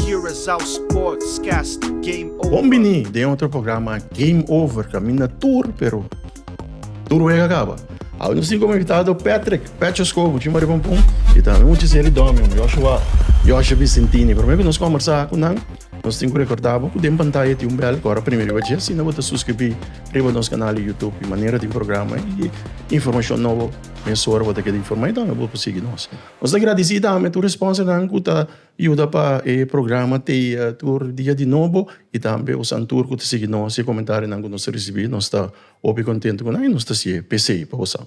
Curaçao Sports Cast Game Over. Bon bini den otro programa Game Over, kaminda tur pero tur wega a kaba. Awe nos tin komo invitado Patrick, Patcho Skobu, Chuma Riba Pum, i tambe un hachicero di Domion, Joshua, Joshe Vicentini. Prome ku nos kombersá ku nan, nos tin ku rekordá bo ku den pantaya tin un bèl kòrda primi riba dje. Asina bo ta suskribí riba nos kanal di Youtube, i manera di programa i informashon nobo, mesora bo ta keda informá i tambe bo por sigui nos. Nos ta gradisí tambe tur responsernan ku ta. Yuda pa e programa te tur dia di nobo i tambe e usan tur ku ta sigui nos i e komentarionan ku nos ta risibí. Nos ta hopi kontentu ku nan i nos ta hasié pesei pa bo sa.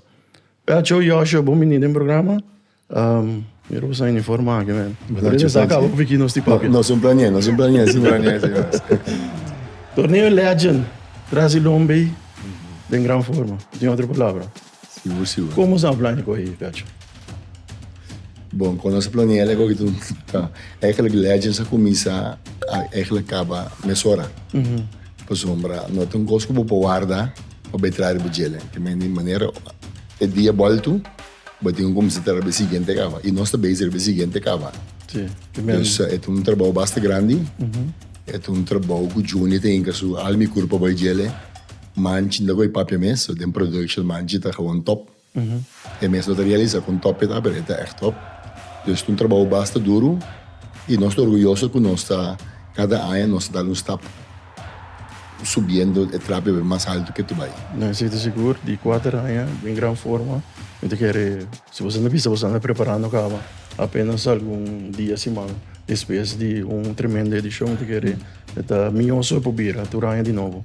Pacho, Yoshua, bon bini den programa. Mira boso nan uniform aki men. Por esa a kaba ku piki nos di papia. Nos un planié, nos un planié si nos. Torneo legend, trasi el homber den gran forma. No tin otro palabra. Sigur sigur. Como sa plania coge e cacho? Bon, con nos a plania el a coge tun ta. Eigenlijk Legends a cuminsa a eigenlijk caba mesora. Pasobra no ta un cos cu bo por warda pa bay traha riba djelen. Ta mende e manera e dia bolto bo tin cu cuminsa traha riba e siguiente caba. Y nos ta base riba e siguiente caba. Si, ta mende. Dus e ta un trabao basta grandi. E ta un trabao cu Johnny ta hinca su alma y curpa bay djele. Manchi no ta koe papia mes, so den production manchi ta gewoon top. E mes no ta realisa kon top e ta, pero e ta ègt top. Dus ta un trabou basta duru i nos ta orguyoso ku nos ta kada aña nos ta dal un stap subiendo e trapio bai mas altu ke ta bai. Nan a sinti sigur di kuater aña den gran forma. Mi ta kere si boso ta bisa boso anda preparando kaba apenas algun dia, siman despues di un tremendo edishon mi ta kere. E ta mioso e pubira tur aña di nobo.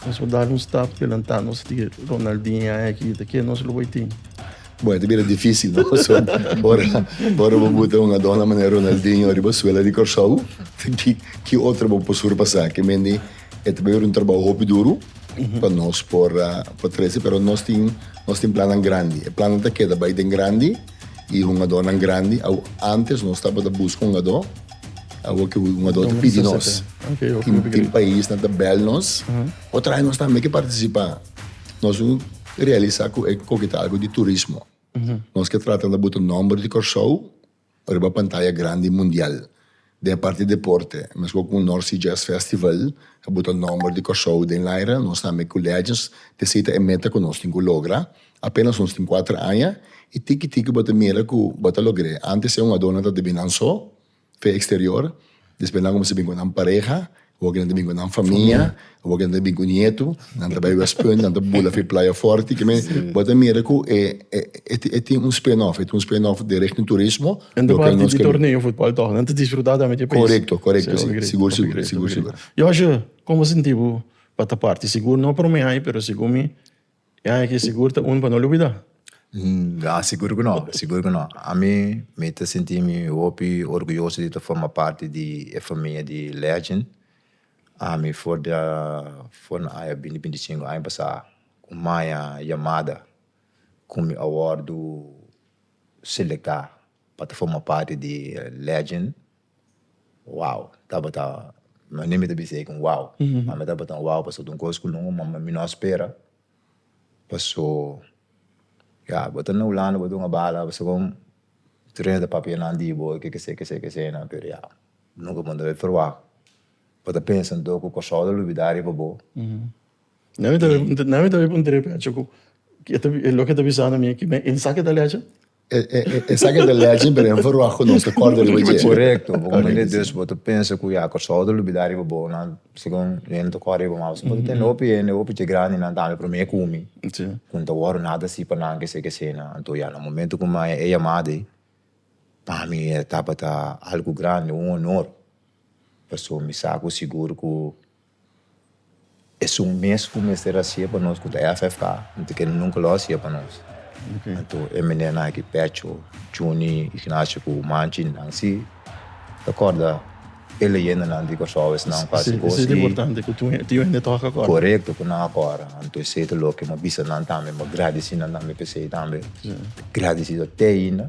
Nos por dal un stap delantá, nos tin e Ronaldinha aki, ta ke nos lo bai tin? Bon, e ta bira difísil, no? Paso, ora, ora bo buta un adona manera Ronaldinho riba suela di Kòrsou, ki, ki otro bo por surpasá? Ke mendi e ta bira un trabou hopi duru pa nos por, por trese, pero nos tin, nos tin plannan grandi. E plannan ta keda bai den grandi. y hungadornan grandi, awo antes nos tabata buska hungador, awo ke hungador ta pidi nos, tin tin paisnan ta bel nos por traha nos tambe ke participa, nos a realisa ku e koke ta algo di turismo, nos ke trata na buta nomber di Kòrsou riba pantaya grandi mundial, Den e parti deporte, mescua cu North-Sea Jazz Festival pa buta nomber di Corsou den laira, nos tambe cu Legends ta seta e meta cu nos tin cu logra. Apenas nos tin cuater aña y tiki tiki bo ta mira cu bo ta logr'e. Antes e un adona ta debí nan so, fe exterior, despues nan cumins'é bin cu nan pareha. Hopi nan ta bin ku nan famia, hopi nan ta bin ku nietu, nan ta bai West Punt, nan ta bula afe Playa Forti, ke men, bo ta mira ku e e tin un spin-off, e tin un spin-off di Richting Turismo. Nan ta parti di torneo futbol tog, nan ta disfruta tambe dje pais. Korekto, korekto, si, sigur, sigur, sigur, sigur. Yoshi, komo sinti bo pa ta parti? Sigur no prome ai, pero segun mi. Ya aki sigur ta un pa no lubida. Ya sigur ku no, sigur ku no. Ami mi ta sinti mi hopi orguyoso di ta forma parti di e famia di Legend. Ami for di for na aya binti binti sinku aña pasá ku maya yamada ku mi a wòrdu selektá pa ta forma parti di Legend. Wow! Tabata, no ni mi ta bisa ei ku un wow, ma mi tabata un wow pasobra ta un kos ku mi mama mi no a spera. Paso, ya, bo ta na hulanda, bo ta hunga bala, bo sabon trena ta papia nan di bo, ke kese, ke kese, ke kese, nan, pero ya, nunka bo no tabata proba. Bo ta pensa anto ku Kòrsou ta lubidá riba bo. Nan mi ta bin puntra e pecho ku, loke e ta bisando mi, esaki ta lecha? E, e, e, esaki ta legend, pero en verua ku nos ta kòrda riba dje. Korekto, bo Correcto, mende dus bo ta pensa ku ya Kòrsou ta lubidá riba bo, nan segun hende ta kòrda riba mas. Bo ta tende hopi hende, hopi dje grandi nan tambe promé ku mi, Sí. ku n'ta wòrdu nada así pa nan, kesé, kesé, nan. Anto ya na momento ku m'haya e yamada ei, pa mi e tabata algu grandi, un honor, pasobra mi sa ku sigur ku Esun mes cu mester a hacia pa nos cu ta FFA, anto que nunca lo a hacia pa nos. Anto e menernan aki, Pecho, Chuni, Ignacio cu Manchin, nan si ta corda e leyendanan di Corsou esnan cu a haci cos y corecto cu nan a corda. Anto esey ta loke, mi a bisa nan tambe, mi a gradici nan tambe pa esey tambe. Ta gradicido te ainda.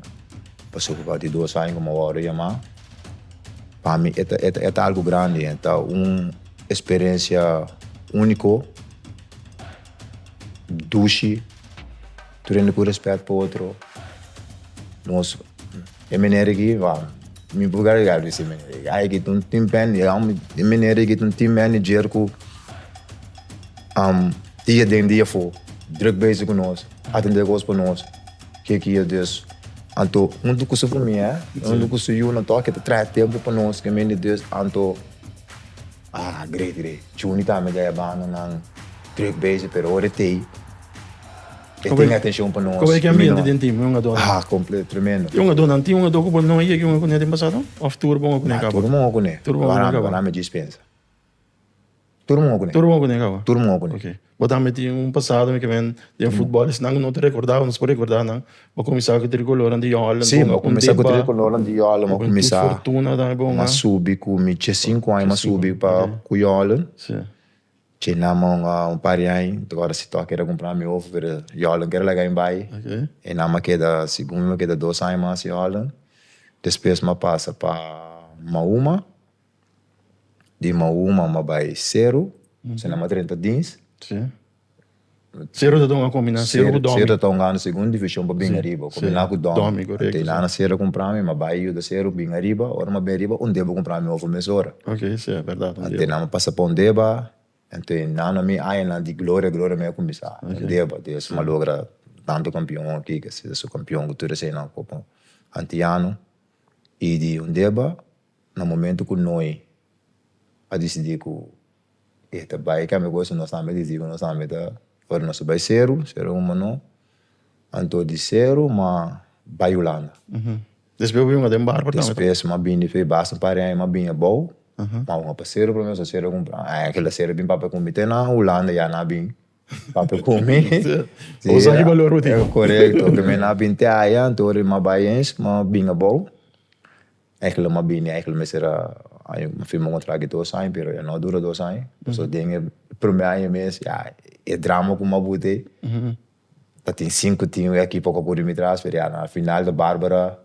Pasobra pa di dos aña como awor a yama, pa mi e ta, e ta, e ta algo grandi, e ta un experiencia unico, dushi, tur hende cu respet pa otro, nos, e manera aki, wa, mi por keda riga disi e manera aki, ay aki ta un team band, e manera aki ta un team manager cu dia den dia for druk bezig cu nos, a tende cos pa nos. Ke ki e Deus? Anto, huntu ku su famia, huntu ku su yunan, tok e ta traha tempu pa nos ku e men di Deus, anto, ah, Gregory, Chuni tambe ta e banda nan druk bezig, pero ora e ta ei, e tin atenshon pa nos. Komo e ki ambiente den tim, un ado? Ah, kompleto, tremendo. Tin un ado nan, tin un ado ku bo no a yega un oportunidat den pasado? Of tur bo un oportunidat kaba? Tur bo un oportunidat kaba. Banan, banan mi djis pensa. Tur un hopi. Tur un hopi nega awa? Tur un hopi. Ok. Bo ta meti un pasado mi ke men den futbol esnan ku no ta rekorda awa nos por rekorda nan. Bo kuminsá ku Trikolonan di Jon Holland. Si, bo kuminsá ku Trikolonan di Jon Holland. Bo kuminsá. Bo ten tur fortuna tambe bon an. M'a subi ku mi dje sinku aña m'a subi pa ku Jon Holland. Si. Dje nan un par di aña mi ta kòrda si tò keda kumprá mi hopi pero Jon Holland keda laga mi bai. Ok. E nan m'a keda segun mi m'a keda dos aña mas Jon Holland. Despues m'a pasa pa Mauma. di mauma ma bai seru, si nan ma drenta dins. Si. Seru ta ta un akombinan, seru ku domi. Seru ta ta un gana segun divishon pa bin ariba, kombiná ku domi. Domi, korekto. Te nana seru a kumpra mi, ma bai yuda seru bin ariba, ora mi a bin ariba un deba a kumpra mi ofu mes ora. Ok, si, e bèrdat, un deba. Te nan mi a pasa pa un deba, te nana mi aña nan di gloria, gloria mi a kuminsá. Un deba, di esei mi a logra tantu kampion aki, ke si su kampion ku tur eseinan ku antiano. I di un deba. Na momentu ku Noe a disidí ku e ta bai kambia gosi, nos tambe disidí ku nos tambe ta ora nos ta bai seru, seru un manó, anto di seru ma bai Hulanda. Despues bo yunga den barku tambe? Despues mi a bini, fe basta un par di aña mi a bini abou, mi a hunga pa seru promé, so seru a kumpra. Ai kila seru a bin papia ku mi te na Hulanda ya na bin papia ku mi. Bo sa ki balor bo tin. Korekto, promé na bin te aya, anto ora mi a bai ens, mi a bin abou. Eigenlijk lo m'a bini, eigenlijk lo mester a aña, m'a firma un contract di dos aña, pero e no a dura dos aña, pasobra den e prome aña mes ya e drama ku Mabu t'e, ta tin sinku tin wea ki poko kuri mi tras, pero ya na final ta Barbara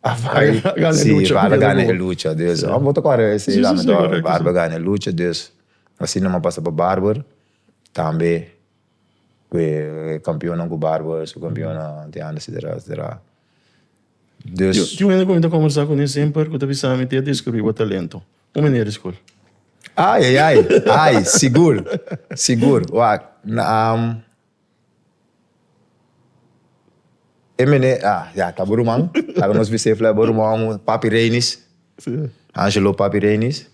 a bai, si Barbara a gana e lucha, dus amo bo ta kore e seis aña to, Barbara a gana e lucha, dus asina nomás pasa pa Barbara, tambe ku e kampiona ku Barbara, su kampiona, te anda, etcetera, etcetera. Des. Di un hende ku mi ta kombersá kuné semper, ku ta bisa mi ku e a deskubrì bo talento. Un meneer di skol. Ai, ai, ai. Ai, sigur. Sigur. Wak, naam, e meneer, ah, ya, ta bo ruman. Laga nos bisa e fla, e bo ruman, Papi Reinis. Sí. Angelo Papi Reinis.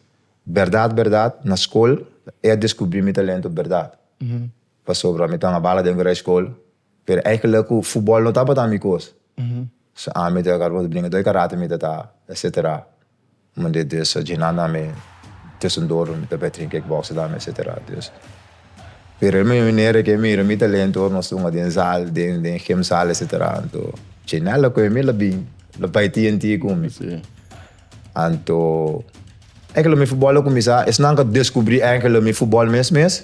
Bèrdat, bèrdat, na skol e a deskubrì mi talento bèrdat. Pasobra mi ta na bala den ku resskol. Pero eigenlijk cu futbol no tabata mi cos. So ami ta carba bringa dor karate mi ta ta etcetera. Mande dus djinan dan mi tusendor mi ta bay train kickboxing dan mi etcetera. Dus pero e mi manera cu e mira mi talento ora nos ta hunga den zaal den den gym zaal etcetera anto djinan la cu mi la bin la bay tnt cu mi. Anto eigenlijk mi futbol a cuminsa esnan ca descubri eigenlijk mi futbol mes mes.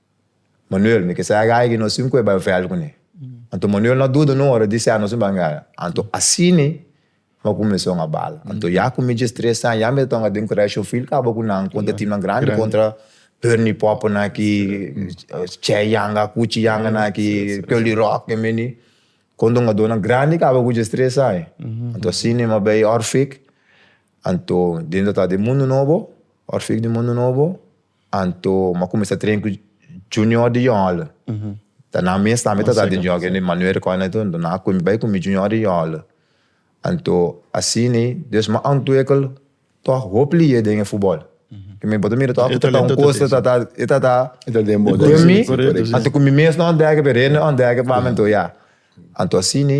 Manuel, mi ke sa gaya di nos sinku e bai vèl kuné. Anto Manuel no a duda un ora di sènus un bangada. Anto asini no a kuminsá un abala. Anto ya ku mi djes tres aña ya mi ta tonga den krèsh un fil kaba ku nan kontra timnan grandi, kontra Bernie Popo nan aki, Che Yanga, Kuchi Yanga nan aki, Kelly Rock e mini. Kon dongadónan grandi kaba ku djes tres aña. Anto asini mi a bai Orfik, anto den ta tabata den mundu nobo, Orfik den mundu nobo. Anto m'a cuminsa train cu Junior di Jòl. Ta nan mes tambe ta sa den Junior, kende Manuel recoge nan etoe, anto nan a cumi bai cu mi Junior di Jòl. Anto asina, dus m'a ontwikkel tòg hoop lier den e futbòl. Cu mi bo ta mira tòg cu tata un cos ta ta, e ta ta den mi, anto cu mi mes no a ontdèk, pero e no a ontdèk pa mi, anto ya. Anto asina.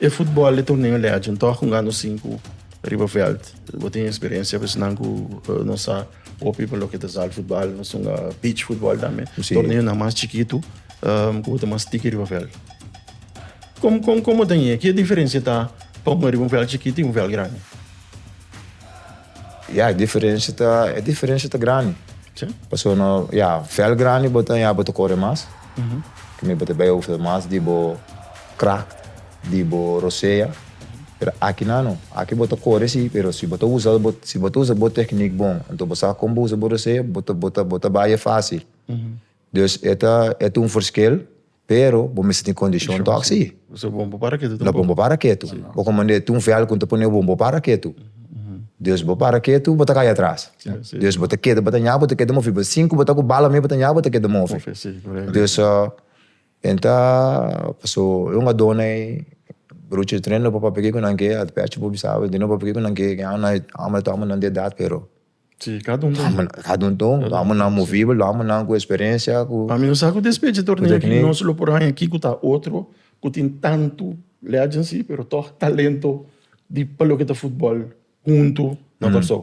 E futbòl di Torneo Legend tòg un gano sinku riba vèlt. Bo tin eksperensia ku esnan ku nos sa hopi pa loke ta zaalfutbal. Nos sunga beach futbòl tambe. Torneonan mas chikitu ku bo ta mas tiki riba vèlt. Kon kon kon bo ta ña? Ke diferensia ta pa un riba un vèlt chikitu i un vèlt grandi? Ya, e diferensia ta, e diferensia ta grandi. Si? Pasobra no, ya, vèlt grandi bo ta ña bo ta kore mas. Bo ta bai usa mas di bo. crack di bo rosea pero aki nano aki bo ta kore si pero si bo ta usa si bo ta usa bo techniek bon enton bo sa kon bo usa bo rosea bo ta bo ta bo ta baya facil dus e ta e ta un forskel pero bo mester tin kondishon tok si na bo bo para ketu bo ko manda e ta un vèl ku ta pone bo bo para ketu dus bo para ketu bo ta kai atras dus bo ta keda bo ta ña bo ta keda mofi bo sin ku bo ta ku bala me bo ta ña bo ta keda mofi dus. Nan ta paso e un adona ei bruchi di treno no papia piki ku nan ke a p'e achi por bisa awe no papia piki ku nan ke ke amo amo ta tuma nan di edat pero si kada un ta un kada un ta un lo amo nan movibel lo amo nan ku experiencia ku pa mi lo sa ku despecha torneo aki nos lo por haña kico ta otro ku tin tantu legends si pero tog talento di pa loke ta football hunto na Kòrsou.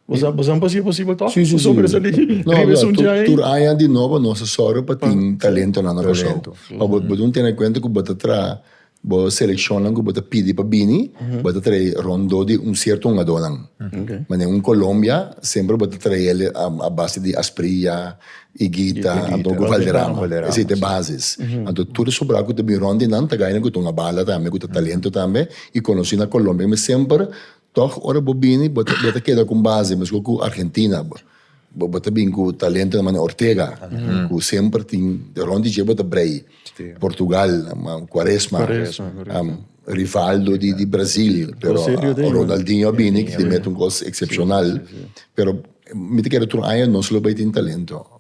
Bo sa, bo sa pa si e posibel tòg? Sí, sí, sí. Pasobra esaki riba e No, sunchi tur, ai. tur aña di nobo nos a sòru pa tin talentonan na Kòrsou. Talento. Ma bo bo dun tene kuenta ku bo ta traha bo selekshonnan ku bo ta pidi pa bini, bo ta trae rondó di un sierto hungadónan. Okay. Ma den un Colombia semper bo ta trae el a a base di Asprilla, Higuita, Higuita. anto ku Valderrama. Valderrama, Esei ta e sí. bases. Anto tur e sobrá ku ta bin rònt di nan ta gainan ku ta un a bala tambe, ku ta talento tambe i konosí na Colombia. Mi semper Tog ora bo bini bo ta keda con base mesco cu Argentina bo ta bin cu talento na mane Ortega cu semper tin de rond di dje bo ta brei Portugal Quaresma Rivaldo di Brazil pero Ronaldinho a bini y met un cos excepcional pero mi ta kere otro aña nos lo bay tin talento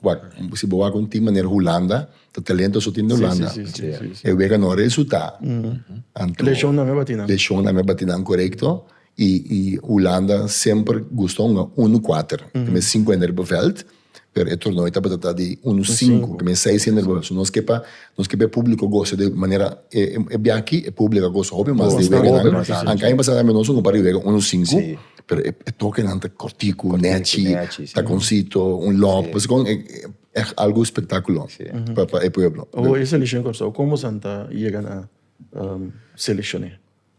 si bo wak un team manera Hulanda. Ta talento su tin den Holanda. Sí, sí, sí, sí, sí. E wega no resulta. Anto, Leshon nan me bati nan. Leshon nan me bati nan korekto. I, i Holanda semper gusta hunga unu kuater. Ke men sinku hende riba vèlt, pero e torneo tabata ta di unu sinku, ke men seis hende riba vèlt. So nos ke pa, nos ke pa e publiko gosa di manera e, e bia aki e publiko a gosa hopi mas di e wega nan. Bastante, sí. Anto aña pasá tambe nos hunga un par di wega unu sinku, pero e toke nan ta kortiku, nèchi, takoncito, un lòb. Pasobra kon e. E algu spektakulo pa pa e pueblo. Oho e selekshon Kòrsou, kon bosan ta yega na selekshon'é?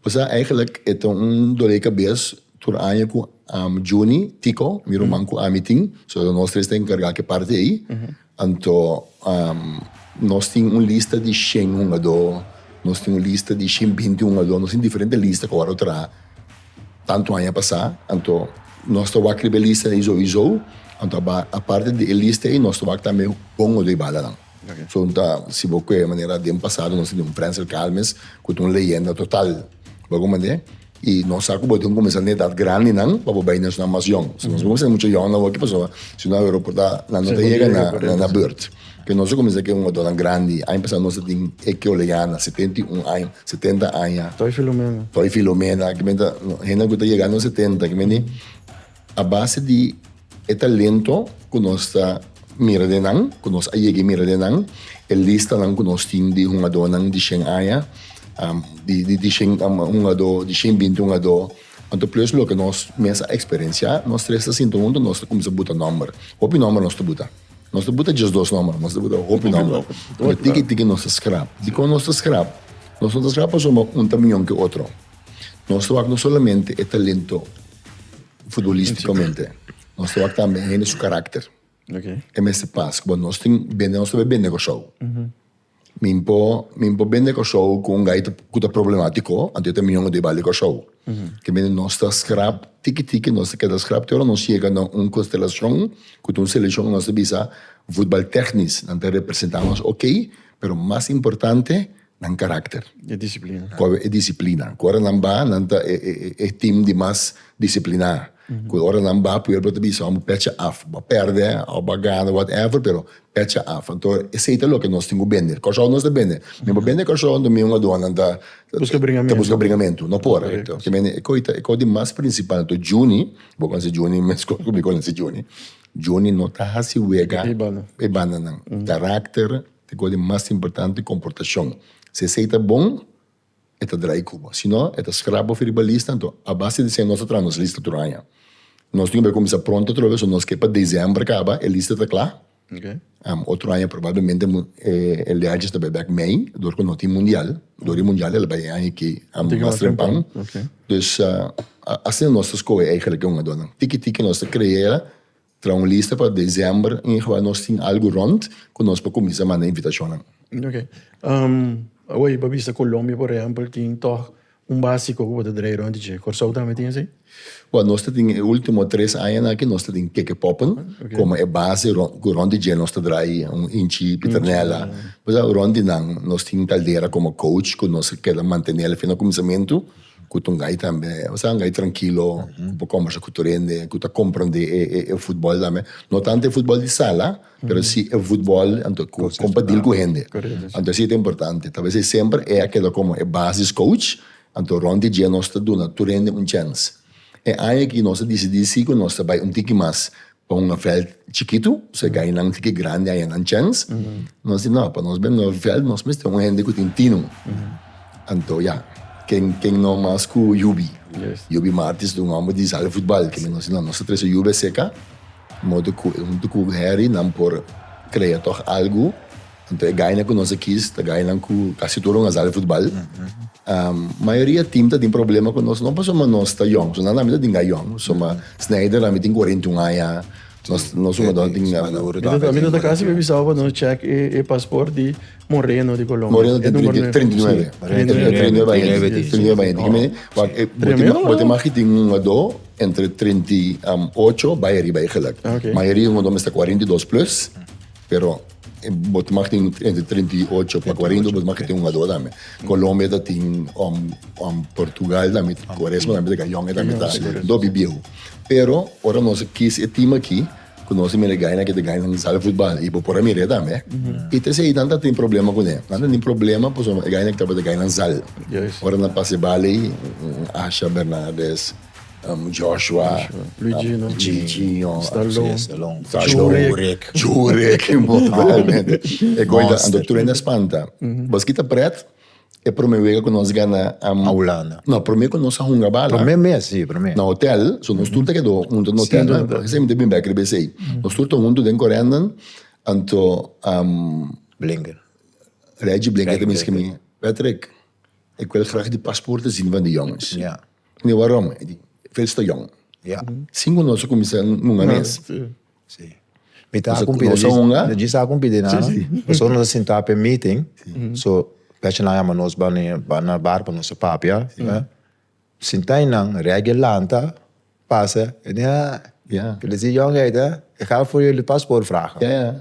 Bo sa eigenlik e ta un dolé kabes tur aña ku Juni Tiko, mi ruman ku ami tin, so nos tres ta enkargá ku e parti ei. Anto nos tin un lista di shen hungadó, nos tin un lista di shen binti hungadó, nos tin diferente lista ku awor lo traha. Tantu aña pasá, anto nos ta wak riba e lista ei sou i sou, anto a bai aparte di e lista ei nos ta wak tambe bon o dui balanan. So un ta si bo koe manera den pasado nos tin un Frentzer Calmes ku ta un leyenda total bo komo manera i nos sa ku bo tin kumesa na edat grandinan pa bo bai na esnan mas yòn. So nos bo kumesa na mucha yòn nan wak kipasoba si no awe roportá nan no ta yega na burt. Penoso cuminsa cu e un otonan grandi. Aña pasá nos a tin e Keoleana, setenta i un aña, setenta aña. Toy Filomena. Toy Filomena, kimen ta, hendenan cu ta yega nos setenta, kimen di a base di e talento cu nos ta mira den nan, cu nos a yega mira den nan, e listanan cu nos tin di hungadónan di shen aña, di shen hungadó, di shen binti hungadó, anto plus loke nos mes a experenciá, nos tres ta sinta huntu, nos ta cuminsa buta nòmber. Hopi nòmber nos ta buta. Nos ta buta djes dos nòmber, nos ta buta hopi nòmber. Pero tiki tiki nos ta skrap. Dikon nos ta skrap? Nos no ta skrap pasobra un ta mion ke otro. Nos ta wak no solamente e talento futbolístikamente, nos ta wak tambe hende su karakter. E mester pas, kuma nos tin bende, nos ta bai bende Kòrsou. Min por min por bende Kòrsou ku un gai ku ta problematiko anto yo ta mion di bali Kòrsou. Ke mende nos ta skrap tiki tiki nos ta keda skrap te ora nos yega na un konstelashon ku ta un selekshon ku nos ta bisa futbal teknis nan ta representá nos okey pero mas importante nan karakter. E disiplina. Kòrek e disiplina ku ora nan ba nan ta e tim di mas disipliná. Cu ora nan ba pueblo bo ta bisa wan bo pecha af, bo a perde of bo a gana whatever pero pecha af, anto esey ta loke nos tin cu bende, cashou nos ta bende, mi bo bende cashou anto mi un aduanan ta busca bringamentu, no por, ta mende e coita e cos di mas principal, anto Juni, bo conoce Juni mescos cu mi conoce Juni, Juni no ta haci wega e bandanan, caracter ta e cos di mas importante comportacion, si esey ta bon. e ta drai Cuba. Si no, e ta scrap of riba lista, anto a base di esei nos ta traha nos lista tur aña. Nos tin que bai cuminsa pronto atrobe, so nos ke pa december caba e lista ta cla. Am, otro aña probablemente e leages ta bai bek mei, dor cu no tin mundial. Dor di mundial e lo bai e aña aki, am, mas temprano. Dus, asina nos ta scohe eigenlic e hungadornan. Tiki tiki nos ta crea. Traha un lista pa december in geval nos tin algu rond cu nos por cuminsa manda invitacionnan. Ok. Awor pa bisa Colombia por ehempel tin toch un basico cu bo ta draai rond di dje. Corsou tambe tin así? Bo nos ta tin e ultimo tres aña aki nos ta tin keke poppen como e base cu rond di dje nos ta draai un inchi Pitternella. Pues a rond di nan nos tin Caldera como coach cu nos keda mantenela fin na cuminsamentu. ku Tungay tambe, osea Tungay trankilo por kombersa ku tur hende ku ta komprendé e futbòl tambe, no tantu e futbòl di sala, pero si e futbòl anto ku kompartil ku hende, anto si ta importante, tabes e semper e a keda komo e basis coach, anto rònt e dje nos ta duna tur hende un chèns, e aña aki nos a disidí si ku nos ta bai un tiki mas, Pa un veld chikitu, so gainan tin ki grandi aña nan chèns. Nos di, no, pa nos bende un veld nos mester un hende ku tin tinu. Anto ya, ken ken no mas ku Yubi. Yubi Martins un hòmber di sala di futbal kimin. Nos di, no, nos ta trese Yubi a seka modo ku e huntu ku Heri nan por krea tòg algu. Anto e gainan ku nos a kis ta gainan ku kasi tur un asar di futbal. Mayoria tim ta tin problema ku nos, no pasobra ma nos ta yòn, pasobra nan ami ta dinga yòn, ma Sneijder ami tin kuarenta i un aña, nos jugador tin. Mi ta kasi babi sa pa no chèk e paspòrt di Moreno di Colombia. Moreno tin treinta i treinta i nueve. Treinta i nueve aña. Treinta i nueve aña. Dime bo te maki tin un jugadó entre treinta i ocho bai ariba ei gèlèk. Mayoria jugadó mester kuarenta i dos plus. Pero bo ta maka tin entre treinta i ocho pa cuarenta y bo ta maka tin un a dos tambe. Colombia ta tin om om Portugal tambe Cuaresma tambe ta ka yonge tambe ta do bibieu. Pero ora nos a kiss e team aki cu nos a mira e gainan aki ta gainan sala di futbal y bo por a mira e tambe y ta esey nan ta tin problema cune. Nan ta tin problema pasobra e gainan aki tabata gainan sal. Ora nan pasa e bal ey Asha Bernardes. Joshua, Luigino, Jurek, Jurek, e goy dan ando tur ene spanta. Bos kita pret? E prome wega ku nos gana Maulana. No, prome ku nos a hunga bala. Prome mes, si, prome. Na hotel, so nos tur ta kedo huntu den hotel, no? Por esei mi ta bin bek riba esei. Nos tur ta huntu den Corendon, anto, Blinger, Reggie Blinger ta miskimi, Patrick, e ku el graag di pasporte zin van di jongens. Mi warom, e di, Fels ta yòn. Ya. Sinku nos a kuminsá hunga mes. Sí. Mi ta kumpi, nos a hunga. No djis a kumpi di nada. Pasobra nos a sintá p'e meeting, so pèchnan a yama nos bai na bar pa nos a papia. Sintá einan, Reggie lanta, pasa, e di, Ah, Felizio yòn yait, eh? E gaf for jullie paspoort vragen.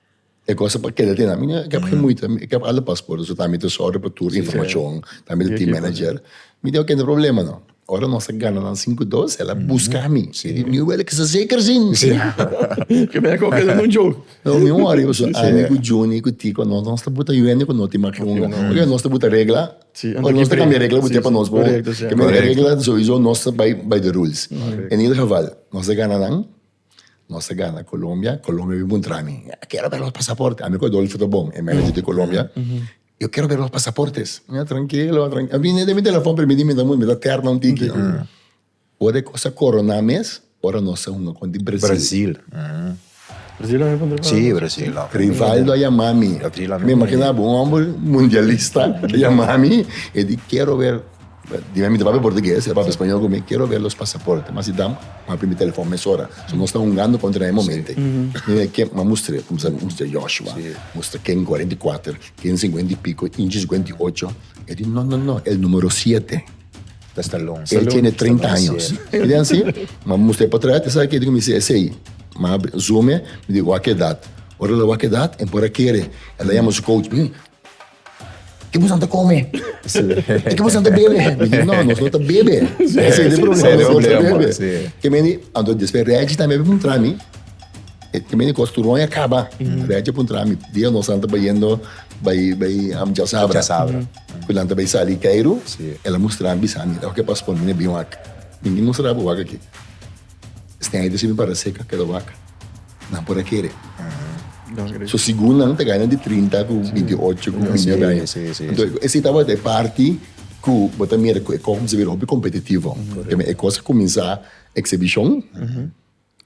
E cosa pa keda tin ami no kep gen moeite mi kep al de paspoort so mi ta zorg pa tur informacion ta mi di team manager mi di oke no problema no ora nos a gana nan sinku dos el a buska mi mi di wel kisa zeker azin no mi worry pasobra ami ku Juni ku Tico nos ta buta yuende ku no tin maki un oke nos ta buta regla ora nos ta cambia regla bo tia pa nos bo cambia regla sowieso nos ta bai bai de rules en ieder geval nos a gana nan. Nos ta gana Colombia, Colombia bin puntra mi, kero bira nos pasaporte, ami ku Adolfo ta bon, e manager di Colombia, yo kero bira nos pasaportes, mi a trankilo, a bini den mi telefon primi di minta, mi ta terna un tiki, ora e kos a korona mes, ora nos a hunga kon di Brazil, si Brazil, Rivaldo a yama mi, mi imagina bo un homber mundialista a yama mi, e di kero ber Di mi, mi ta papia portugues i el papia spañol ku mi, Kero ver los pasaporte. Mas i dam, mi papia mi telefòn mesora. So nos ta hungando kontra e momente. Mi di, Ke? M'a mustra, kumsa mi mustra Yoshua, mustra Ken kuarenta i kuater, Ken singuenta i piko, Inchi suguenta i ocho. E di, No, no, no, el numero siete. Ta Stallone. E tiene treinta años. Mi di, Ansi? M'a mustra e potret, i sabe kiko mi si? Esei. M'a zùme, mi di, Wak e edat. Ora el a wak e edat, e por a kere. El a yama su coach. Mi di, Ke busan ta kome? E ke busan ta bebe? Mi di, no, nos no ta bebe. Ese e problema, nos no ta bebe. Ke meni, anto despues Reggie tambe a puntra mi, ke meni kos tur won a kaba? Reggie a puntra mi, dia nos nan ta bayendo bai, bai Hamjasabra, ku nan ta bai sali Keiru, el a mustra mi, bisa mi, oke Pastor, mi na bin wak. Mi na mustra bo wak aki. Sna e disipu para seka keda waka. Nan por a kere. So sigun nan ta gana di trinta ku binti ocho ku binti ocho aña. Anto esei tabata e parti ku bo ta mira ku e kò kumsa bira hopi kompetitivo. Tema e kos a kuminsá eksibishon,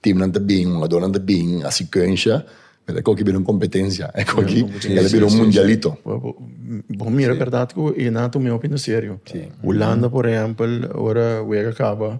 timnan ta bin, hungadónan ta bin, a sikuensha, e kò aki bira un kompetensia, e kò aki el a bira un mundialito. Bo mira bèrdat ku e nan tuma hopi na serio. Hulanda por ehèmpel ora wega kaba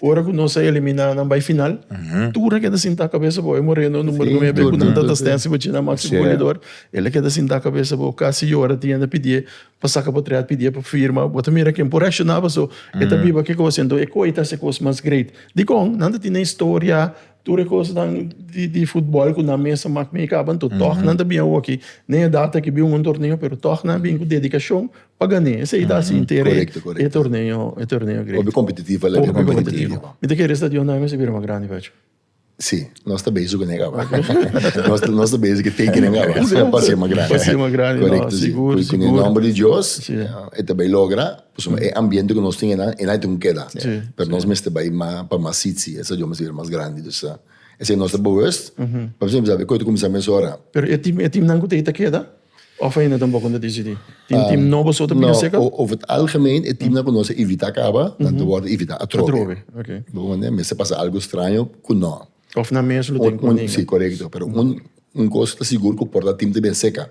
Ora cu nos a elimina nan bay final, tur a keda sinta cabeza bo. E Moreno numero nuebe cu nan ta ta Stensi pa djina maximo golidor. El a keda sinta cabeza bo, casi yora tienda pidié pa saca pa triat, pidié pa firma. Bo ta mira ken por reacciona paso e ta biba ki cos. Enton e coe ta haci e cos mas great. Dicon? Nan ta tin e historia, tur e cosnan di futbol cu nan mes a mak mey caban. Toh nan ta bin awoki. Nen edad aki bin un torneo pero toh nan a bin cu dedicacion Pagané, esei ta haci inter e torneo grandi. Hopi competitivo el a bira con Ponti Indio. Mi ta kere e stadion nan mester bira mas grandi pacho. Sí, nos ta bezi cu nan e caba. Nos ta bezi cu t'e kinan caba pa ser mas grandi. Pa ser mas grandi, no, sigur, sigur. Cu e nomber di Dios e ta bay logra, pasobra e ambiente cu nos tin enan, enan e tin cu keda. Pero nos mester bay mas pa mas sitsi, e stadion mester bira mas grandi. Dus esei nos ta bewust, pa mi siempre sa, koe ta cuminsa mesora. Pero e team nan cu t'e ta keda? Of a hende tampoco ta decidi? Tin team nobo so ta bira seca? No, over het algemeen e teamnan cu nos a invita caba, nan ta wordo invita atrobe. Atrobe, ok. Bo bo manda? Mester pasa algo extraño cu no. Of nan mes lo tin cu ninga. Si, corecto. Pero un cos ta sigur cu por ta team ta bien seca.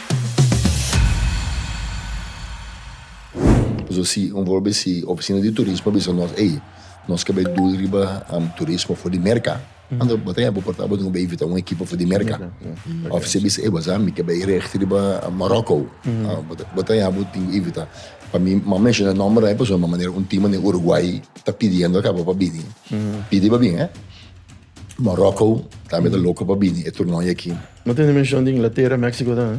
Nos a siy un volbe si oficina di turismo a bisa nos ey nos ke bai dul riba turismo for di Merca ando bo ta hempo porta bo tin ku bai invita un ekipo for di Merca of si a bisa ey bo sa mi ke bai recht riba Morocco bo ta ya bo tin ku invita pa mi mi a menshiona nomber ey pasobra mi a manera un tima den Uruguay ta pidiendo akaba pa bini pidi pa bin eh Morocco tambe ta loco pa bini e turnooi aki. No tende menshon di Inglatera, Mexico ta.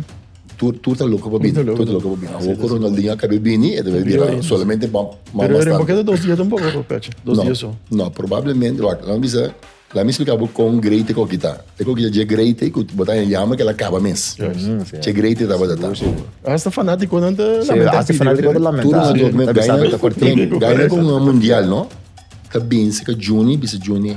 Tur tur ta loco pa bini, tur ta loco pa bini. Awo cu Ronaldinho a cabe bini e ta bai bira solamente pa mama Pero rembo keda dos dia ta un poco pa pecha, dos dia so. No, no probablemente, wak, lami bisa, lami explica bo con great ta con kita. Ta con kita dje great cu bo ta yama cu el a caba mes. Dje great ta tabata ta. Hasta fanaticonan ta lamenta. Hasta fanaticonan ta lamenta. Tur un toque, gaina gaina con un mundial, no? Ta binse ca Juni, bisa Juni.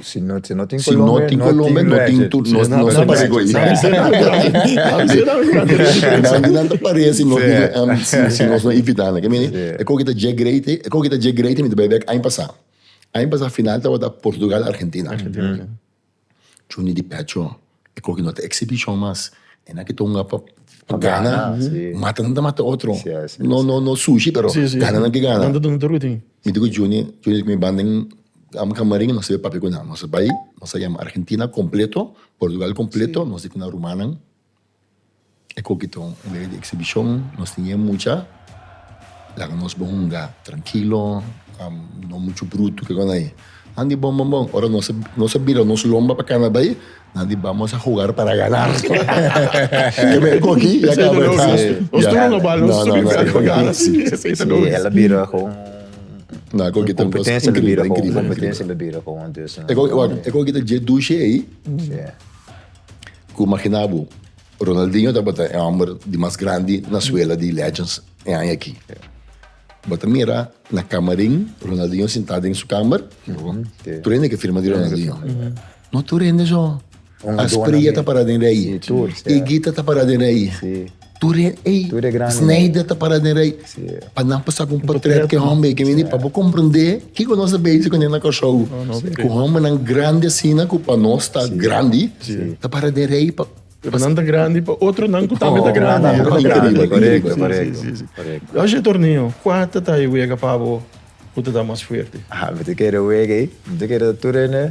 Si no tin Colombia, no tin tur. No ta pare ku ei. Nan ta pare si no tin invitá nan. E kos ki ta dje greiti, e kos ki ta dje greiti mi ta bai bek aña pasá. Aña pasá final tabata Portugal, Argentina. Chunti di pecho. E koki no ta exhibition mas e na ki ta hunga pa gana mata nan ta mata otro no no no sushi pero gana nan ki gana mi di ku Juni Juni mi ban den ame kamarin nos a papia ku nan nos a bai nos a yama Argentina completo Portugal completo nos a di ku nan rumannan E koki ta un lei di eksibishon. Nos tin e mucha. Laga nos bo hunga trankilo. No muchu brutu ke kos ai. Nan di bon bon bon. Ora nos a bira nos lomba pa kana bai, nan di bamos a hugar para ganar. Ke mei koki ya kaba e tas. Nos tur un oba los tur bira pa gana. Si, esei ta nos. El a bira kon un kompetensia. Kompetensia el a bira kon un. E koki ta dje dushi ei. Cu magina bo, Ronaldinho tabata e homber di mas grandi na suela di legends e aña aki. Bo ta mira na camarin, Ronaldinho sinta den su kamer, tur hende ke firma di Ronaldinho. No tur hende so. Asprilla ta para den de ayi. E Gita ta para den de ayi. Tur e ei, Tur e gran e. Snijder ta para den rei. Sí. Pa nan pasa con portret que hombre que vini pa bo comprender kiko nos a bezig con nena cachorro. no pe. Con hombernan grandi asina cu pa nos ta grandi. Ta para den rei pa Pero nan ta grandi pa otronan cu tambe ta Oh, grandi. nan ta grandi, Increíble, correcto, increíble. correcto, Sí, sí, sí. correcto. Oye, Tornillo, cua ta ta e wega pa bo cu ta ta mas fuerte? Ah, mi ta kere wega ei. Mi ta kere tur ene.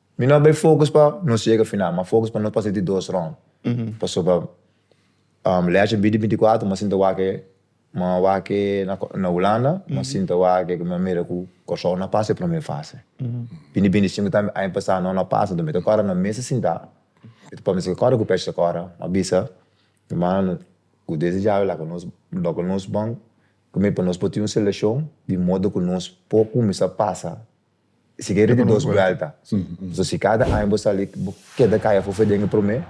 Mi no a bai focus pa nos yega final, ma focus pa nos pasa di dos rond. Pasobra Leace a bini di binti kuater, mi a sinta wak e, mi a wak e na Hulanda, mi a sinta wak e, mi a mira ku Kòrsou no a pasa e promé fase. Bini di binti sinku tambe aña pasá no a pasa, enton mi ta kòrda na mesa sintá, mi ta kòrda si kòrda ku Pèch ta kòrda, mi a bisa humannan ku desde dja awe laga nos dòkil nos bon, komo ei pa nos por tin un selekshon di modo ku nos por kuminsá pasa. Si kere di dos buelta. So si kada aña bo sali bo keda kaya fufe den e prome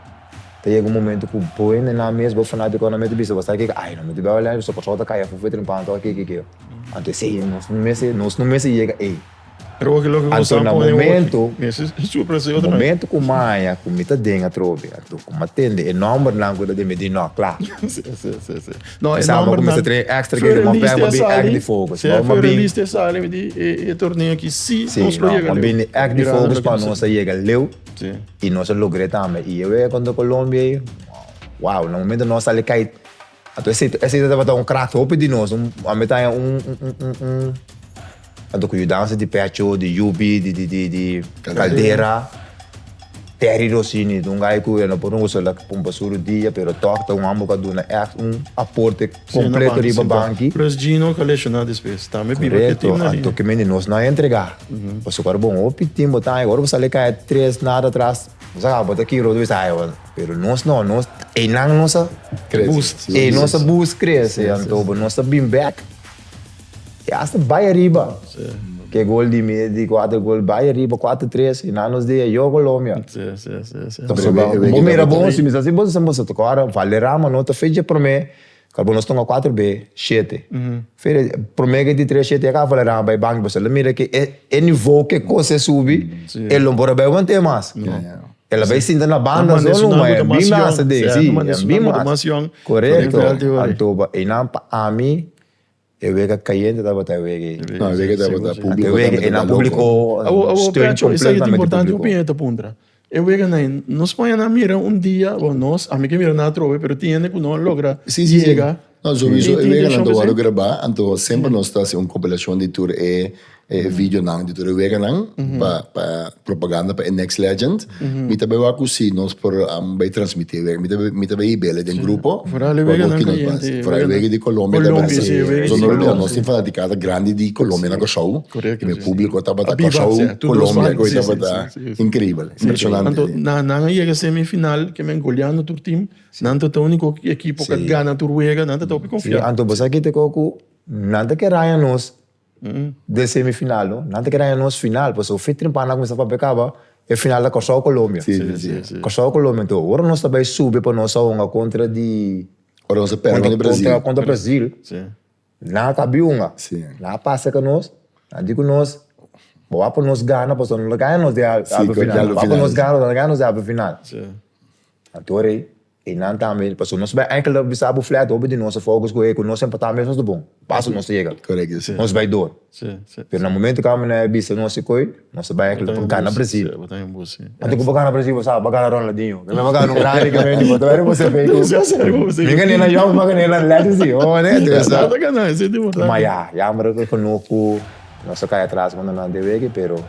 ta yega un momento ku bo e nenan mes bo fanatiko nan mete bisa bo sa kiko ay nan miti bel wale so patrou ta kaya fufe tren panta o kiki kiki anto esei nos no mester nos no mester yega ei anto na momento momento ku maña ku mi ta den atrobe anto kuma tende e nombernan ku ta den mi di no kla. No e nomber nan Sur e lista a sali Sef sur e lista a sali mi di e torneo aki si nos lo yega leu mirando loke nos a haci Si nos a yega leu y nos a logr'e tambe y e wega contra Colombia ayi wow na momento nos a sali kai ato esei tabata un crack hopi di nos un ame ta haña un. Tanto cu yudanza di pecho, di yubi, di caldera. Terry Rossini ta un guy cu e no por usa la pon pa suru dia, pero toch ta un homber cu a duna echt un aporte completo riba banki. Plus Gino cu a lesiona despues. Tambe biba cu e team na lina. Correcto. Kimendi nos no a entrega. Pasobra ora bo un hopi team bo ta ay, ora bo sali caya tres na atras, bo sa caba bo ta aki otro bes ay bo. Pero nos no, nos eynan nos a. Crece. Boost. Eynan nos a boost crece. Anto nos ta bin back. E asta bai ariba. Ke gol di mi di kuater gol bai ariba, kuater tres, i na nos dia yo Colombia. Entonces bo mira bon, si mi sa si bo sa bo sa ta kora Valderrama no ta fecha prome kal bo nos tonga kuater be shete. Prome ke di tres shete ya ka Valderrama bai banki bo sa la mira ke e nivo ke kos a subi e lo por a bai want'é mas. El a bai sinta na banda so luma e a bin masa den si e a bin masa. Korekto Anto pa einan pa ami E wega cayente tabata e wega ei. No, e wega tabata publico. Ante wega ei nan publico steun completamente publico. Esa yeta importante hopi hende ta puntra. E wega na ei nos Spanje nan mira un dia, bo nos, ami ke mira nan atrobe pero tin hende ku no a logra yega. No, sobiso e weganan ta wòrdu grabá, anto semper nos ta hasi un kompilashon di tur e e videonan di tur e weganan pa pa propaganda pa e next legend mi ta bai wak ku si nos por bai transmiti e wega mi ta bai mi ta bai bele den grupo Foral e weganan ku yente e foral e wega di Colombia ta basa Colombia si e wega di Colombia nos tin fanatikada grandi di Colombia na Kòrsou korekto mi publiko tabata Kòrsou Colombia koe tabata inkribel impresionante anto nan nan a yega semi final ke men goleando tur tim nan tabata uniko ekipo ku a gana tur wega nan ta topi konfia anto bo sa kiti ku nan ta ke raya nos. Den semifinal no, nan ta ke daña nos final, pasobra un fei temprano nan a kuminsá papia kaba, e final ta Kòrsou Kolombia. Sí, sí, sí, sí. Kòrsou Kolombia. Anto, ora nos ta bai sube pa nos a hunga kontra di, Ora nos a pèrdè kontra di Brazil. kontra, kontra Brazil, Sí. nan a kaba di hunga. Sí. Nan a pasa ka nos, nan a di ku nos, bo wak pa nos gana, pasobra nan ta gaña nos den halbe Sí, final, bo wak pa nos gana, bo ta gaña nos den halbe final. Sí. Anto, ora ei I nan tambe, pasobra nos bai enkel a bisa bo flat, hopi di nos a focus cu e cu nos a importa mesmo ta bon, paso nos ta yega, nos bai door. Pero na momento cu abo no a bisa nos ecoy, nos a bai enkel pa gana Brazil. Anto cu bo gana Brazil, bo sa, bo a gana Ronaldinho, mi bo a gana un grandi cu bai di bo, bo sabi cu mi a gana Young, bo a gana Hernán Latis di bo, mada. Ma ya, yamber pa no cu nos a cay atras manda nan te wege, pero.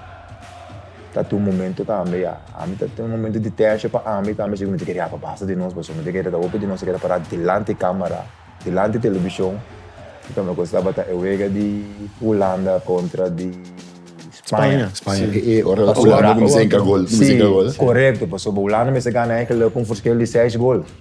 Ta tin un momento tambe ya, ami ta tin un momento di tensha pa ami tambe, si ku mi ta kere ya pa basta di nos, pasobra mi ta kere ta hopi di nos ta kere para dilanti camera, dilanti television, mi ta me acorda tabata e wega di Hulanda contra di Spania, Spania, Spania, e, e, ora Hulanda ku mi sinka gol, ku mi sinka gol. Correcto, pasobra Hulanda mester gana enkele con un verschil di seis gol.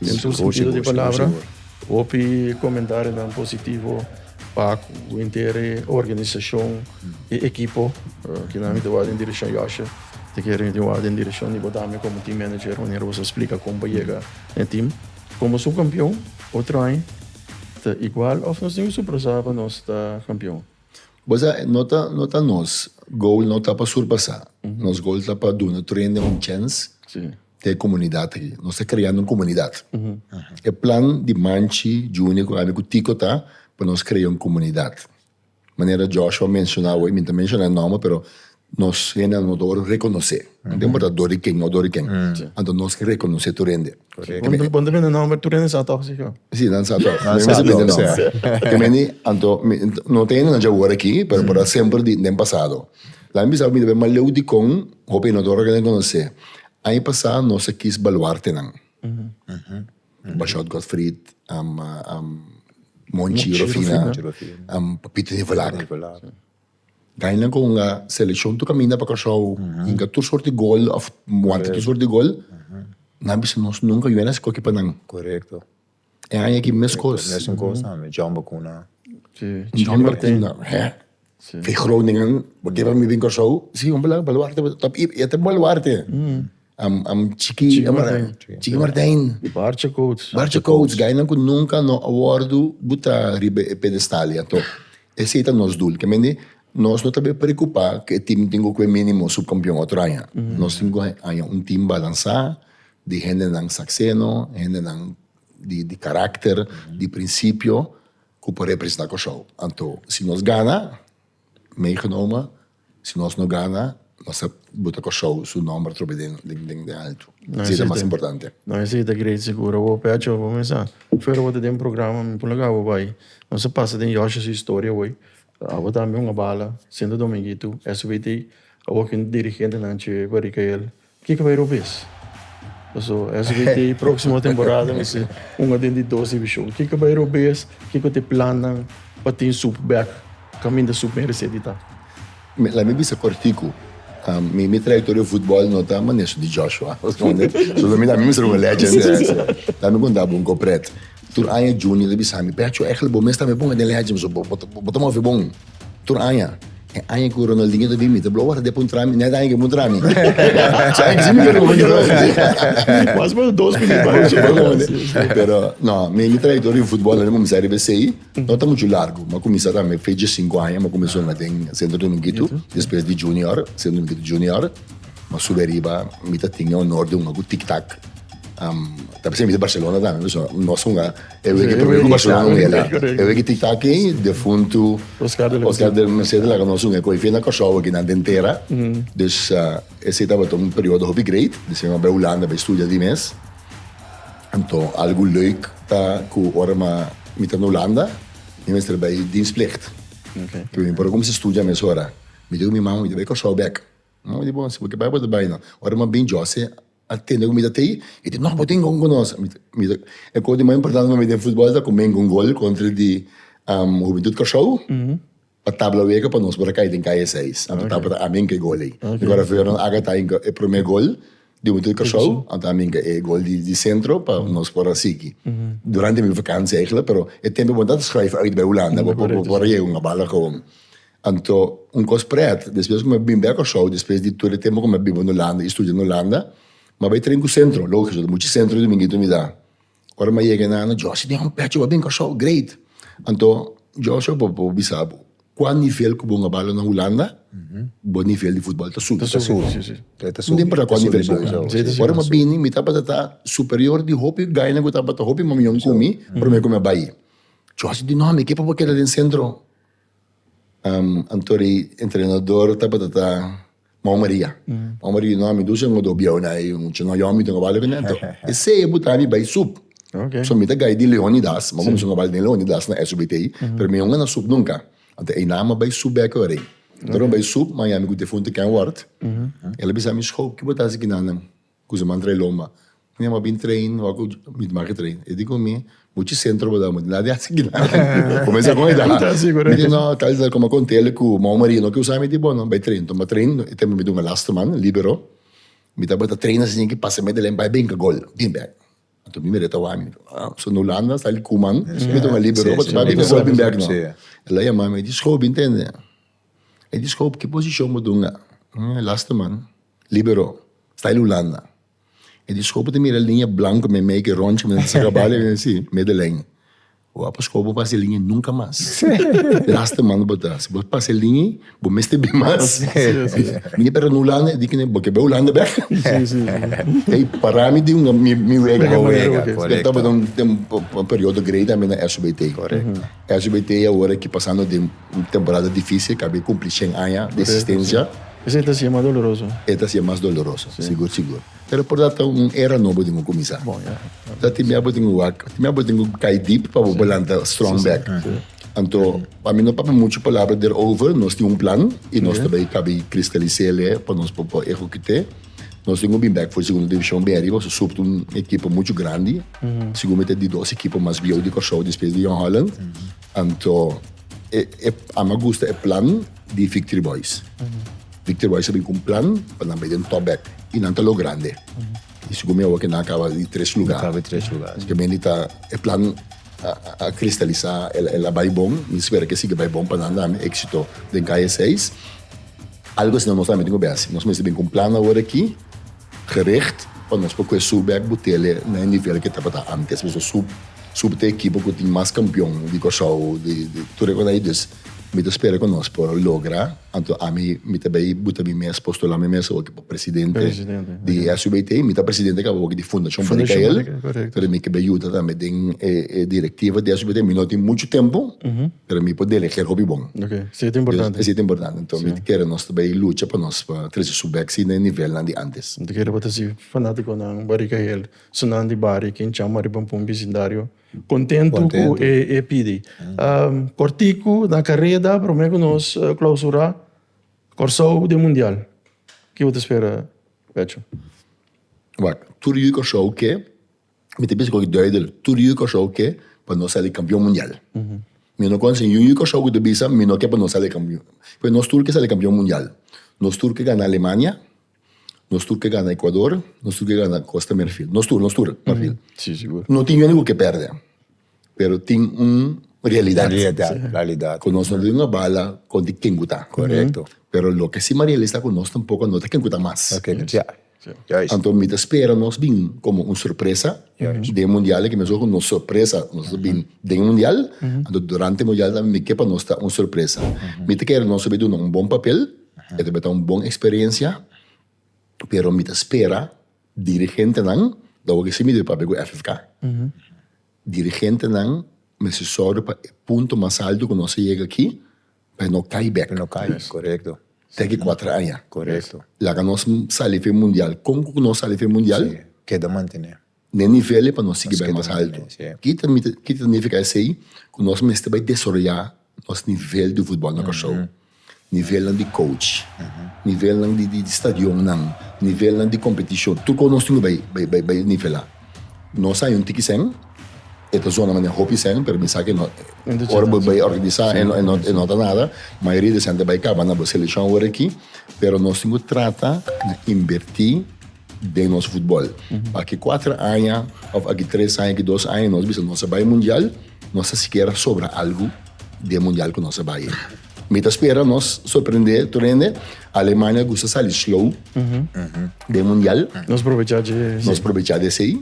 Den tur sentido di palabra, hopi comentarionan positivo pa cu henter e organisacion, e ekipo, cu nan mi ta wak den direccion Yoshi, te kere mi ta wak den direccion di bo dami como team manager manera cu boso a splica con pa yega na e team. Como subcampeon, otro aña ta igual of nos tin que surpresa pa nos ta campeon? Bo sa, no ta, no ta nos goal no ta pa surpasa. Nos goal ta pa duna Trending un chance te e komunidat aki. Nos ta kreando un komunidat. E plan di Manchi, Junior ku ami ku Tiko ta pa nos krea un komunidat. Manera Joshua a menshona hoy, mi no ta menshona e nòmber pero nos hendenan no ta wòrdu rekonosé. No ta importa dor di ken òf dor di ken. Anto nos ke rekonosé tur hende. Bon ta bini nòmber, tur hende sa tòg si ko? Si, nan sa tòg. Nan sa tòg. Anto no ta hende nan dja wòrdu aki pero por a semper den pasado. Laga mi bisa ku mi ta bai maleu dikon hopi inodoro ke nan konosé. Aña pasá nos a kis baluartenan. Bashòt Godfried, Monchi Rofina, Papito Nivolak. Dai nan ku unga selekshon tur kaminda pa Kòrsou, hinka tur sort di gol òf wanta tur sort di gol, nan bisa nos nunka yuwe na skohe pa nan. E aña aki mes kos. Mesun kos tambe, John Bakuna. John Bakuna, hè. Fi Groningen, bo ke pa mi bin Kòrsou? Si, un bala, Baluarte, e ta Baluarte. Am Chiki. Chiki Martin. Bartje Coates. Bartje Coates, gainan ku nunka no a wòrdu buta riba e pedestal ya. Tò, esei ta nos dul. Ke mende, nos no ta bai preokupá ku e tim tin ku kue minimo subkampion otro aña. Nos tin ku aña un tim balansá. Di hendenan sakseno, hendenan di karakter, di prinsipio ku por representá Kòrsou. Anto si nos gana, meegenomen, si nos no gana, nos ta buta Kòrsou su nòmber atrobe den altu. Esei ta mas importante. No esei ta greit segur. Awor p'e acho bo mesa, fuera bo ta den un programa, mi pon laga bo bai. Nos a pasa den Yoshi su historia awor. Awor tambe un a bala, Sento Dominguito, SBT. Awor kin dirigentenan che Barikayel. Kiko bay Rubes? Paso SBT e proximo temporada mi si unda den di dos division. Kiko bay Rubes? Kiko ta e plannan pa tin Sup bek caminda Sup bin recién di ta? Mi laat mi bisa cortico. Mi mi trayectoria futbol no ta manera su di Joshua. So lo mi laat mi bisa un legend. Laat mi conta bo un copret. Tur aña Junior ta bisa mi, Pecho, eigenlijk bo mes tambe ponga den legend, paso bo ta mofi bon. Tur aña. E aña ku Ronaldinho ta bin mi ta blow wak ta dep un trami. Nèt aña ke bo trami. Sa aña ke si mi ker komo djora. Mas mas dos mil riba ocho pa komo. Pero no, mi mi trayektoria riba futbol a kuminsá riba esei. No ta muchu largu. Mi a kuminsá ta mi fechi sinku aña. Mi a kuminsá hunga den Sento Dominguito, despues di junior, Sento Dominguito Junior. Mi a subi ariba, mi ta tin e honor di hunga ku Tik Tak. Ta p'esei mi ta Barcelona tambe, pasobra nos hunga. E wiki primer ocupacion nan ung'e la. E wiki ti taki defuntu Oscar del Merced del Merced a laga nos ung'e cu e fia na Cor-sou aki nan den tera. Dus esey tabata un periodo hopi great. Di asina nos bai Hulanda bai studia di mes. Anto algu leuk ta cu ora ma mi ta na Hulanda mi mester bai dienstplicht. Cu mi por a cuminsa studia mesora mi di cu mi mama mi ta bai Cor-sou bek. Mi mama di bon si bo ke bai bo ta bai no. Ora mi a bin Jose A tende ku mi ta tei i di, No, bo tin kon konos. E kos di mas importante pa mi den futbòl ta ku mi hingá un gol kontra di Hubentut Kòrsou pa tabla wega pa nos por a kai den kaya seis. Anto tabata ta ami hingá e gol ei. Mi wòrdu Fernando Aga ta hingá e promé gol di Hubentut Kòrsou, anto ami hingá e gol di sentro pa nos por a sigui. Durante mi vakansia eigentlik, pero e tempu ku bo ta skrijf uit bai Hulanda, bo por a yega un a bala kaon. Anto un kos prèt, despues ku mi a bin bèk Kòrsou, despues di tur e tempu ku mi a biba na Ulanda i studia na Ulanda, mi a bai tren ku sentro, logisch, pasobra muchu sentro di Dumingito mi da. Ora mi a yega e nana, Jòsi, mi a un pèch ku bo a bin Kòrsou, great! Anto, Jòsi, apo bo por bisa bo, kua nivel ku bon a balo na Ulanda, bo nivel di futbòl ta subi. Ta subi, si, si. E ta subi. No ta importa kua nivel bo a, si. Ora mi a bini, mi tabata ta superior di hopi gainan ku tabata hopi mamion ku mi, promé ku mi a bai. Jòsi di, no, mi ke pa bo keda den sentro. Anto di entrenador tabata ta Mau Maria. Mau Maria e nomi dushi ango do bieu na e mucha no yomi ta ngabali ku nan anto esei e buta mi bai sup. So mi ta gai di Leonidas mi a kuminsha ngabali den Leonidas na SUBT pero mi aun a na sup nunka anto e nan a bai sup bek ora ei. Anto mi bai sup mi a yami ku defunto Ken Ward el a bisa mi sho kiba ta hasi ki nannan. Ku se mantra e lomba. Mi yama bin train wak ku mi ta make train. E di ku mi, Muchi sentro bo ta dame. Nada di hasi aki nan. Kumensa kon e da. Mi di no, tal vez koma kon tele ku mao maria no ke usa mi. Mi di bo no, bai train. Tuma train. E tempu mi ta un elastoman, libero. Mi tabata train na siña ki pasa me deleng bai binka gol. Bin bek. Anto mi mira e ta wak mi. So na Hulanda sa li Koeman. Mi mi ta un libero pa bai binka gol bin bek no. E la yama mi, e di Schoop, bin tende? E di Schoop, ki posishon bo dunga? Elastoman. Libero, style Hulanda. E di skopo ta mira e liña blanko me make e ròntje me sa kaba li me si, Medellijn. Bo a pa skopo pasa e liña i nunka mas. Lasta manda bo ta. Si bo pasa e liña ei, bo mester bin mas. Mi no perdona Hulanda, e di kende, bo ke bai Hulanda bèk? Ei para mi di mi wega. Mi wega, korekto. Mi tabata un periodo grei tambe na SUBT. Korekto. SBT y awor aki pasando den un temporada dificil cabia cumpli cien aña di existencia. Correcto, si. Esey ta hacia mas doloroso. Ey ta hacia mas doloroso, sigur, sigur. Pero por dat ta un era nobo den cu cuminsa. Bon, ya. Sa tin bia bo tin cu wak, tin bia bo tin cu cay diep pa bo por lanta strong back. Si, si. Anto, pa mi no papia mucho palabra derover, nos tin un plan y nos ta bay cabi cristalisele pa nos por ecocute. Nos tin un bin bek for di Segunda Divishon bin ariba, so Subt un ekipo muchu grandi, segun mi ta di dos ekipo mas bieu di Kòrsou despues di Jong Holland, anto e e ama gusta e plan di Victory Boys. Victory Boys a bin ku un plan pa nan bai den tòp bek i nan ta logrande. I segun mi awo ke nan a kaba di tres lugá. Nan kaba di tres lugá, si. Asiki mi di ta e plan a a kristalisá, el a bai bon, mi spera ke sigui bai bon pa nan tambe, éksito den kaya seis. Algu asina nos tambe tin ku bes. Nos mester bin ku un plan awor aki gericht pa nos por kue subi bek Butele na e nivel ke tabata antes. Nos a sub subi te ekipo ku tin mas kampion di Kòrsou di tur e kosnan ei. Dus mi ta spera ku nos por logra. Anto ami mi ta bai buta mi mes, postula mi mes awor. presidente di e SUBT, mi ta presidente kaba hopi di Fundacion Bani Kael, pero mi kebe yuda tambe den e directiva di SUBT, mi no tin muchu tempu, pero mi por deleger hopi bon. Esei ta importante. Esei ta importante, enton mi ta kere nos ta bai lucha pa nos pa trese su bek si na e nivelnan di antes. Mi ta kere bo ta si fanaticonan Bani Kael, sunan di bario ken chama riba un pun bisindario, contentu cu e pidi. Corticu, na careda, prome cu nos clausura, Kòrsou den mundial, ki bo ta spera Becho? Wak, tur yu di Kòrsou ke, mi ta bisa ku tabata duidel, tur yu di Kòrsou ke pa nos sali kampion mundial. Mi no konosé niun yu di Kòrsou ku ta bisa mi no ke pa nos sali kampion. P'es nos tur ke sali kampion mundial. Nos tur ke gana Alemania. Nos tur ke gana Ekuador, nos tur ke gana Kosta Merfil. Nos tur, nos tur, Marfil. Sí, sigur. No tin yende ku ke pèrdè, pero tin un realidat. Realidat, realidat. Ku nos no ta duna bala konti ken ku ta. Korekto. Pero loke si Mariela esta ku nos tampoko no ta ken ku ta mas. No ta ken ku ta. Juist. Anto mi ta spera nos bin komo un sorpresa den mundial aki mesora ku nos sorpresa nos a bin den e mundial, anto durante mundial tambe mi ke pa nos ta un sorpresa. Mi ta kere nos a bin duna un bon papel. E ta beta un bon experiencia, pero mi ta spera dirigentenan, lo awor ke si mi debe papia ku FFK, dirigentenan mester sorge pa e punto mas alto ku nos a yega aki, pa e no kai bek, te ki kuater aña, laga nos sali fe mundial, kon ku nos sali fe mundial, Na e nivel e pa nos sigui bai mas altu. Ki ta ki ta nifiká esei? Ku nos mester bai desaroyá nos nivel di futbòl na Kòrsou. Nivelnan di kouch, nivelnan di di stadionnan, nivelnan di kompetishon, tur kos nos tin ku bai bai bai bai nivelá. Nos aña un tiki sèn, e ta zona manera hopi sèn, pero mi sa ke no ora bo bai organisá e no e no ta nada, mayoria di e sèn ta bai kaba na bo selekshon awor aki, pero nos tin ku trata na inbertí. den nos futbol. Pa ki kuater aña of aki tres aña, aki dos aña nos bisa nos a bai mundial, nos ta sikiera sobra algu den mundial ku nos a bai. Mi ta spera nos sorprende tur hende. Alemania gusta sali slow den mundial. Nos probecha dje esei. Nos probecha di esei.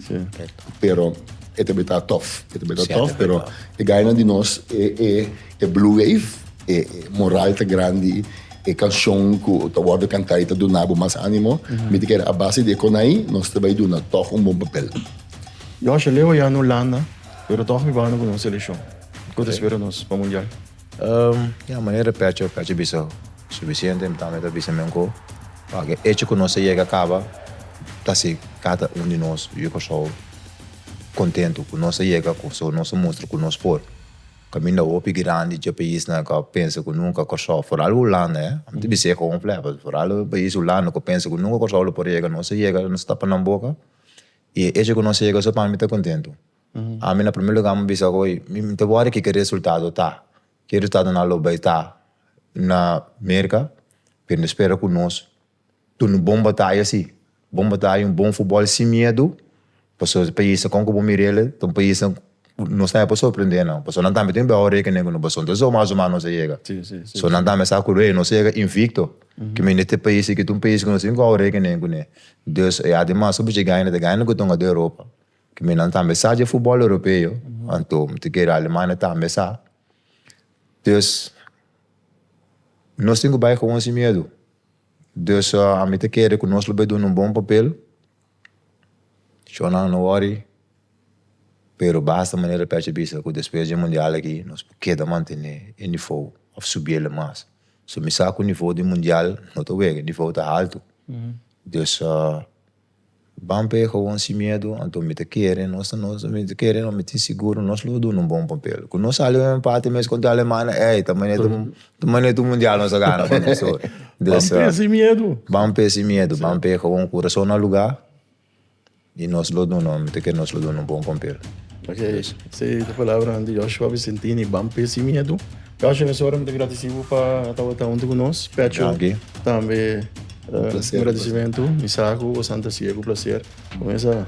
Pero e ta beta tof, e ta beta tof, pero e ganan di nos e e. E Blue Wave, e moral ta grandi, e canshon cu ta wordo canta y ta duna bo mas animo, mi ta kere a base di e conai nos ta bay duna toch un bon papel. Josh, Leo ya na Hulanda, pero toch mi banda cu nos seleccion. Cu ta spera nos pa Mundial? Ya, manera Pecho, Pecho bisa suficiente, mi tambe ta bisa mengco. Pague echo cu nos a yega caba ta haci cada un di nos, yu y Curaçao, contento cu nos a yega cu nos a mustra cu nos por. Caminda hopi grandi dje paisnan cu a pensa cu nunca Corsou, foral Hulanda eh, amo ta bisa ey con un flepa, foral e pais Hulanda cu a pensa cu nunca Corsou lo por a yega, nos a yega, nos a tapa nan boca y e hecho cu nos a yega so pami ta contento. Ami na primer lugar amo a bisa cu ey, mi no ta wor di kico resultado ta, kico resultado nan lo bay ta na Merca, pero mi ta spera cu nos. Tur un bon bataya si, bon bataya un bon futbol sin miedu, paso e paisnan con cu bo mira el'e ta un paisnan nos ta hapo sorprende nan, paso nan tambe tin un behou rekenen cu nos paso entonces o mas o mas nos a yega, so nan tambe sa cu ey nos a yega invicto, cu mi n'e tin pais aki, un pais cu nos tin cu hou rekenen cu n'e, dus e ademas hopi dje gana ta gana cu tonga den Europa, cu mi nan tambe sa dje futbol Europeo, anto mi ta kere Alemania tambe sa, dus. Nos tin cu bay gewoon sin miedu, dus ami ta kere cu nos lo bay duna un bon papel, shownan no worry, pero basta manera pech a bisa cu despues dje mundial aki nos por keda mantene e nivou of subi el mas, so mi sa cu nivou di mundial no ta wega, nivou ta alto, dus. Ban p'e gowon sin miedu, anto mi ta kere, nos ta nos, mi ta kere no, mi tin siguro nos lo duna un bon papel. Ku nos sali un empate mes kontra Alemania, ey, ta manetu, ta manetu mundial nos a gana ku mes hoy. Ban p'e sin miedu. Ban p'e sin miedu, ban p'e gowon kurason na luga, i nos lo duna, mi ta kere nos lo duna un bon papel. Ok, esei ta palabranan di Yoshua Vicentini, ban p'e sin miedu. Gracias Profesor, mi ta gradeci bo pa a tabata hunto cu nos. Pecho tambe un agradecimento. Mi sa cu bo santa cia cu placer. Cu mesa,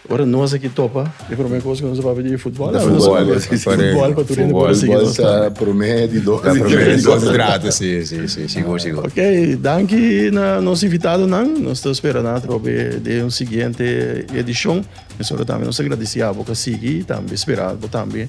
ora nos aki topa, e prome cos cu nos a papia di e futbol. Futbol, futbol pa tur hende por a sigui nos. Futbol ta prome di dos, di tres. Dos, di tres, si, si, si. Sigur, sigur. Ok, danki na nos invitadonan. Nos ta spera nan atrò be den un siguiente edicion. Mesora tambe nos ta gradeci abo cu a sigui. Tambe spera bo tambe